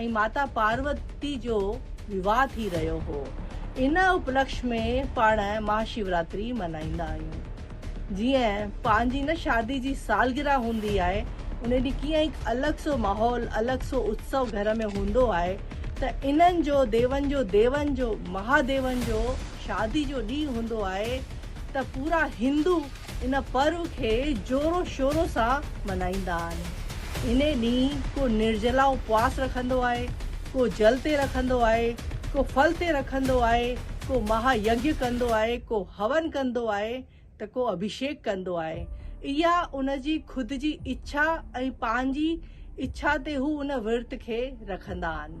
۽ ماتا پاروتي جو وواهه ٿي رهيو هو. ان اپلڪش ۾ پاڻ مها شيوراتري ملهائيندا آهيون. جيئن پنهنجي نه شادي جي سالگرهه هوندي آهي ان ڏينهن ڪيئن هڪ الڳ سو ماحول الڳ سو اتسو گهر ۾ هوندو آهي ته انهن جو ديون جو ديون جو مهاديون جو شادي جو ڏينهن هوندو آهي ته پورا هندو ان پرو کي زورو شورو سان ملهائيندا آهن. انهي ڏينهن ڪو نرجلا اپواس رکندو آهي، ڪو جل تي رکندو آهي، ڪو ڦل تي رکندو آهي، ڪو مها يگيا ڪندو آهي، ڪو هون ڪندو آهي ته ڪو اڀيشيڪ ڪندو آهي. اها ان جي خود جي اڇا ۽ پنهنجي اڇا تي هو ان ورت کي رکندا آهن.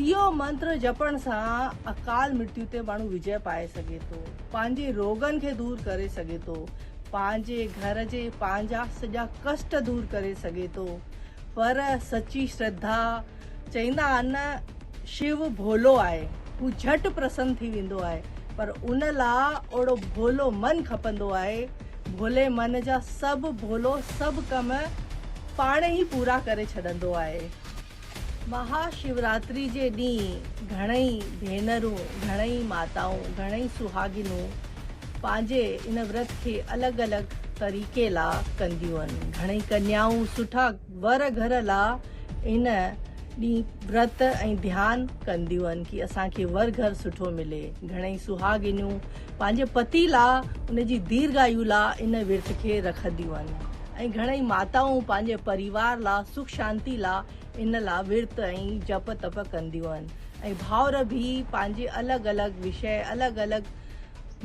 اهو منتر جپڻ سان اڪال مرتيو تي ماڻهو وجئي پائي سگهي ٿو، پنهنجي روڳن کي دور ڪري سگهي ٿو، پنهنجي گهر جي پنهنجا سڄا ڪشٽ دور ڪري سگهي ٿو، پر سچي شرڌا چئيندا آهن نه شو ڀولو آهي، هو جهٽ پرسن ٿي ويندو آهي، پر ان لا اوڙو ڀولو من کپندو آهي، ڀولي من جا سڀ ڀولو سڀ ڪم پاڻ ئي پورا ڪري ڇڏندو آهي. مها شوراتري جي ڏينهن گهڻئي ڀينرون، گهڻئي ماتائون، گهڻئي سهاڳنون پنهنجي ان ورت کي الڳ الڳ طريقي لا ڪنديون آهن. گهڻئي ڪنيائون سٺا ور گهر لا ان ڏينهن ورت ۽ ڌيان ڪنديون آهن ڪي اسان کي ور گهر سٺو ملي. گهڻئي سهاڳنيون، پنهنجي پتي لا ان جي ديرگايو لا ان ورت کي رکنديون آهن ۽ گهڻئي ماتائون پنهنجي پريوار لا سک شانتي لا ان لا ورت ۽ جپ تپ ڪنديون آهن ۽ ڀائر به پنهنجي الڳ الڳ وشي الڳ الڳ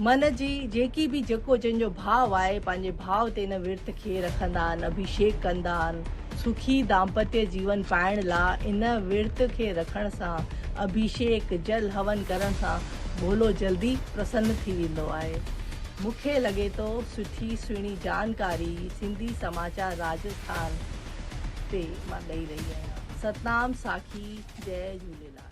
من جي جيڪي به جيڪو جن جو ڀاء آهي پنهنجي ڀاء تي ان ورت کي رکندا آهن اڀيشيڪ ڪندا آهن سکي دامپتي جيون پائڻ لا ان ورت کي رکڻ سان اڀيشيڪ جل هون ڪرڻ سان ڀولو جلدي پرسن ٿي ويندو آهي. مون کي لڳي ٿو سٺي سهڻي جانڪاري سنڌي سماچار راجسٿان تي مان ڏئي رهي آهيان. ستنام ساکي جئي جهوليلال.